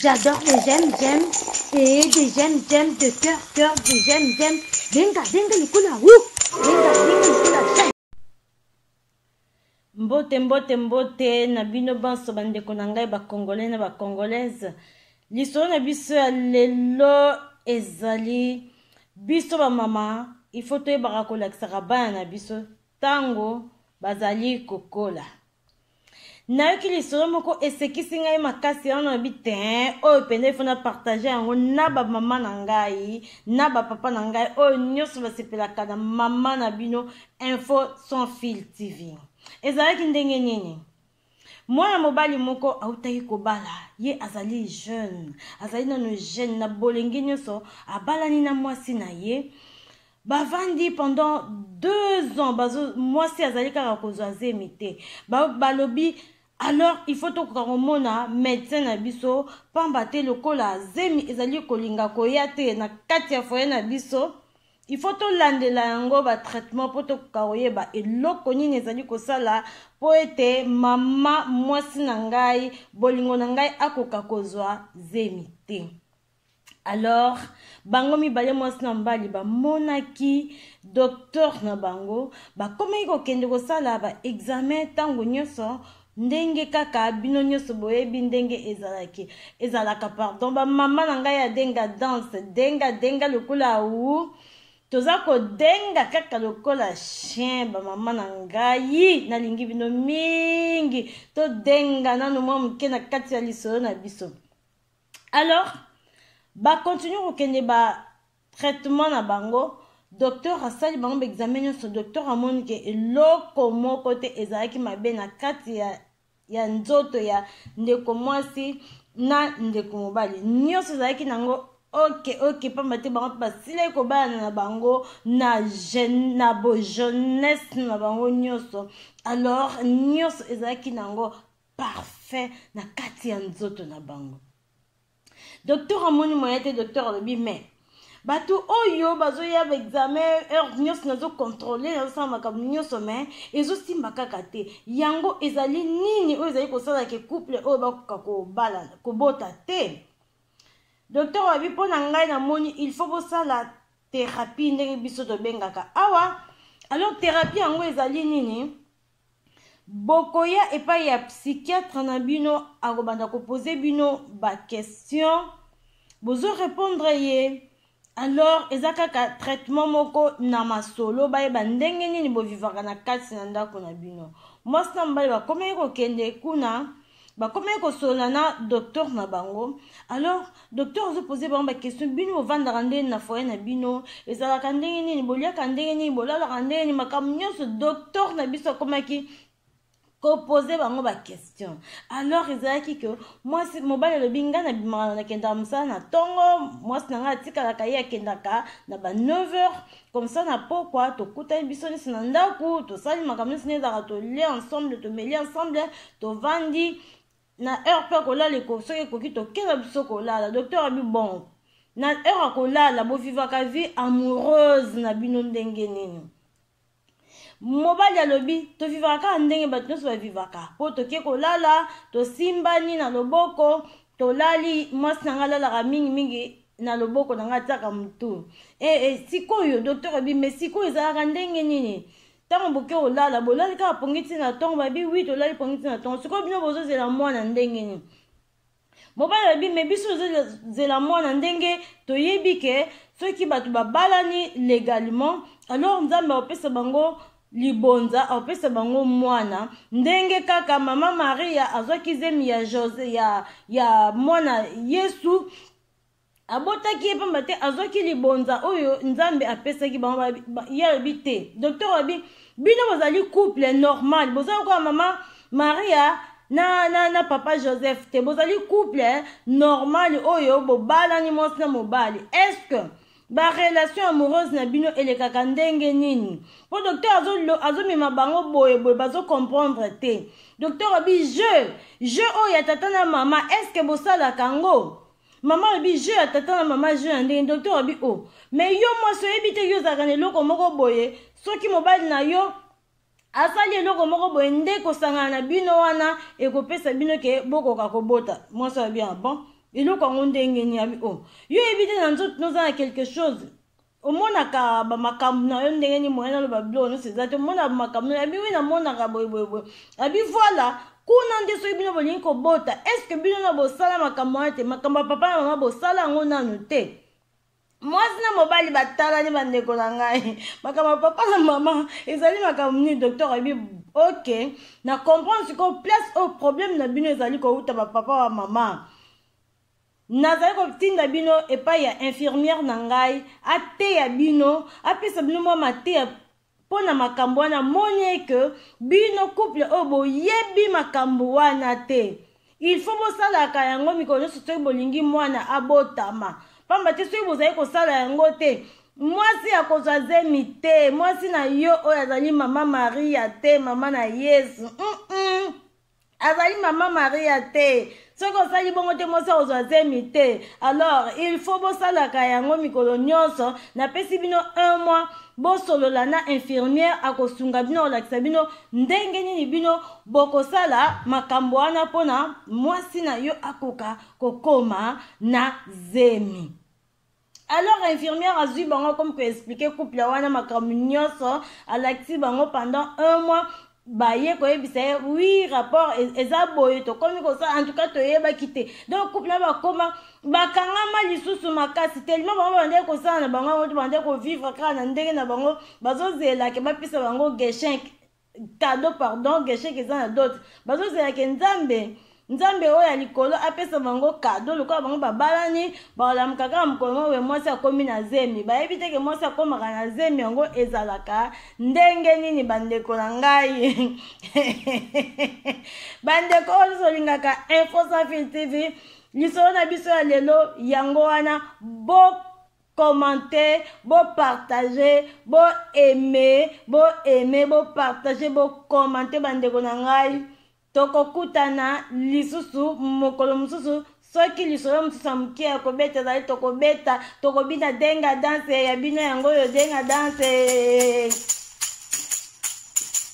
J'adore les j'aime j'aime et des j'aime j'aime de cœur cœur des j'aime j'aime benga benga likula hu benga benga likula j'aime mbote mbote mbote na bino banso bandeko na ngai bacongolais na bacongolaise lisolo na biso ya lelo ezali biso bamama ifo toyebaka kolakisaka bana na biso ntango bazali kokola nayoki lisolo moko esekisi ngai makasi wana nabi ten oyo mpenza ifo na partage yango na bamama na ngai na bapapa na ngai oyo nyonso basepelaka na mama na bino info sans fil tv ezalaki ndenge nini mwana mobali moko autaki kobala ye azali jeune azali nano jeune na bolenge nyonso abalani na mwasi na ye bavandi pendant deux ans bazo mwasi azali kaka kozwa zemi te balobi ba alors il faut tokoka komona médecin na biso pamba te lokola zemi ezali kolinga koya te na kati ya foye na biso il faut tolandela yango batraitement mpo tokoka koyeba eloko nini ezali kosala mpo ete mama mwasi na ngai bolingo na ngai akoka kozwa zemi te alors bango mibale mwasi na mobali bamonaki docteur na bango bakomaki kokende kosala baexamen ntango nyonso ndenge kaka bino nyonso boyebi ndenge ezalaki ezalaka pardon bamama na ngai ya denga danse denga denga lokola u toza kodenga kaka lokola chien bamama na ngai nalingi bino mingi todenga nano mwa moke na kati ya lisolo na biso alors bacontinue kokende batraitement na bango docteur asali bango baexame nyonso docteur amoni ke eloko moko te ezalaki mabe na kati ya, ya nzoto ya ndeko mwasi na ndeko mobali nyonso ezalaki nango oke oke mpamba te bango mpe basilaki kobalana na bango na, jeune, na bojeunesse na bango nyonso alors nyonso ezalaki nango parfum na kati ya nzoto na bango docteur amoni moyen te docteur alobi mais bato oyo bazoya baexamen heure nyonso nazokontrole nazosala makambo nyonso mai ezosimba kaka te yango ezali nini oyo ezali kosala ke couple oyo bakoka kobala kobota te docteur wabi mpo na ngai namoni il faut bosala therapie ndenge biso tobengaka awa alors therapie yango ezali nini Bokoya epai ya psychiatre na bino akobanda ko poser bino ba question bozo repondre ye alors eza kaka traitement moko na masolo bayeba ndenge nini bovivaka na kati na ndako na bino mwasi na mobali bakomaki kokende kuna bakomaki kosolola na docteur na bango alors docteur azopose bango baquestion bino bovandaka ndenge na foye na bino ezalaka ndenge nini boliaka ndenge nini bolalaka ndenge nini makambo nyonso docteur na biso akomaki kopose bango baquestion alors ezalaki ke mwasi mobali alobi ngai nabimaka nakendaka mosala na ntongo mwasi na ngai atikalaka ye akendaka na ba 9 heures Comme ça na pokwa tokutani biso nyonso na ndako tosali makambo nyonso nde ezalaka tolie ensemble tomeli ensemble tovandi na heure mpe kolala soki ekoki tokenda biso kolala docteur abi bon na heure ya kolala bovivaka vie amoureuse na bino ndenge nini mobali alobi tovivaka kaka ndenge bato nyonso bavivaka mpo toke kolala tosimbani na loboko tolali mwasi na ngai alalaka mingimingi na loboko na ngai atiaka motu e, e, sikoyo dokter abi me sikoyo ezalaka ndenge nini ntango boke olala bolali kaka pongi ntina na ntongo babi wi tolali pongi ntina na ntongo sikoyo bino bozozela mwana ndenge nini mobali alobi me biso tozozela mwana ndenge toyebi ke soki bato babalani légalement alors nzambe akopesa bango libonza akopesa bango mwana ndenge kaka mama maria azwaki zemi ya, Jose, ya, ya mwana yesu abotaki ye mpamba te azwaki libonza oyo nzambe apesaki bango ye alobi te docteur alobi bino bozali couple normal boza lokola mama maria na, na, na papa joseph te bozali couple eh, normal oyo bobalani mwasi na mobali est-ce que barelation amoureuse na bino elekaka ndenge nini mpo docteur azomema azo bango boye boye bazocomprendre te docteur abi jeu jeu oyo ya tata na mama est-ce que bosalaka yango mama alobi jeu ya tata na mama jeu ya ndenge docteur alobi o oh. mais yo mwasi oyebi te yo ozalaka na eloko moko boye soki mobali na yo asali eloko moko boye nde kosangana na bino wana ekopesa bino ke bokoka kobota mwasi alobi ah bon eloko yango ndenge nini abi o oh. yo oyebi te na nzoto noza na quelque chose omonaka bamakambo na yo ndenge nini moye naloba biloko nyonso eza te omona bamakambo na yo abi wi namonaka boyeboyeboye abi voila kuna nde soki bino bolingi kobota estce bino na bosala makambo wana te makambo ya papa na mama bosala yango nanu te mwasi na mobali batalani bandeko na ngai makambo ya papa na mama ezali makambo nini docteur ayebi ok na comprendre sikoyo place oyo problème na bino ezali kowuta bapapa wa mama Nazali kotinda bino epai ya infirmière na ngai ateya bino, apesa bino mwa mateya mpo na makambo wana. Amoni eke bino couple oyo boyebi makambo wana te. Il faut bosalaka yango mikolo nyonso soki bolingi mwana abotama, mpamba te soki bozali kosala yango te mwasi akozwa zemi te, mwasi na yo oyo azali mama Maria te, mama na Yesu mm -mm. azali mama maria te soki osali bongo te mwasi akozwa zemi te alors il faut bosalaka yango mikolo nyonso napesi bino un mois bosolola na infirmière akosunga bino kolakisa bino ndenge nini bino bokosala makambo wana mpona mwasi na yo akoka kokoma na zemi alors infirmière azwi bango comme ko expliquer couple wana makambo nyonso alakisi bango pendant un mois baye koyebisa ye wi rapport e, eza boye tokomi kosala en tout cas toyebaki te donc couple na bakoma bakangama lisusu makasi telima bango babandaki kosala na bango yango to babandaki kovivre kaka na ndenge na bango bazozelake bapesa bango geshink cadeau pardon gesheke eza na dote bazozela ke nzambe nzambe oyo ya likolo apesa bango kado lokola bango babalani balamuka kaka mokolo moko boye mwasi akomi na zemi bayebi te ke mwasi akomaka na zemi yango ezalaka ndenge nini bandeko na ngai bandeko oyo nyonso olingaka info sans fil tv lisolo na biso ya lelo yango wana bo commente bo partage bo aime bo aime bo partage bo commente bandeko na ngai tokokutana lisusu mokolo mosusu soki lisolo mosusu ya moke ya kobeta ezali tokobeta tokobina denga danse ya bino yango oyo denga danse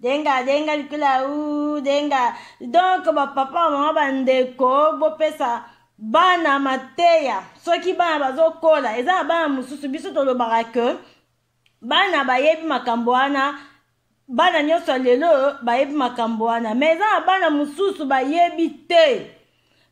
denga denga likula u denga donc bapapa mama bandeko bopesa bana mateya soki bana bazokola eza na bana mosusu biso tolobaka ke bana bayebi makambo wana bana nyonso ya lelo bayebi makambo wana me eza na bana mosusu bayebi te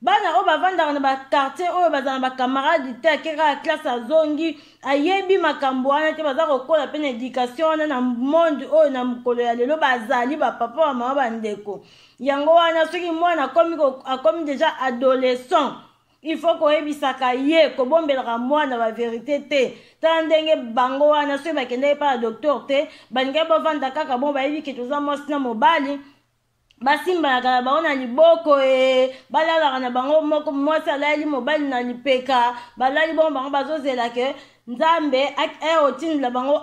bana oyo bavandaka na bakartier oyo bazala na bacamarade te ake kaka classe azongi ayebi makambo wana te baza kokola mpe na éducation wana na monde oyo na mokolo ya lelo bazali bapapa wa mama bandeko yango wana soki mwana akomi, akomi deja adolescent il faut koyebisaka ye kobombelaka mwana baverité te tala ndenge bango wana soki bakendaki mpa na docteur te balingaki bavanda kaka bon bayebi ke toza mwasi na mobali basimbanaka na bango na liboko e balalaka na bango moko mwasi alaleli mobali na lipeka balali bongo bango bazozela ke nzambe eh, otindela bango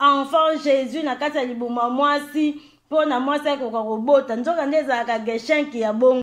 enfant jésus na kati ya libumu ya mwasi mpo na mwasi akoka kobota nzoka nde ezalaka geshenki ya bongo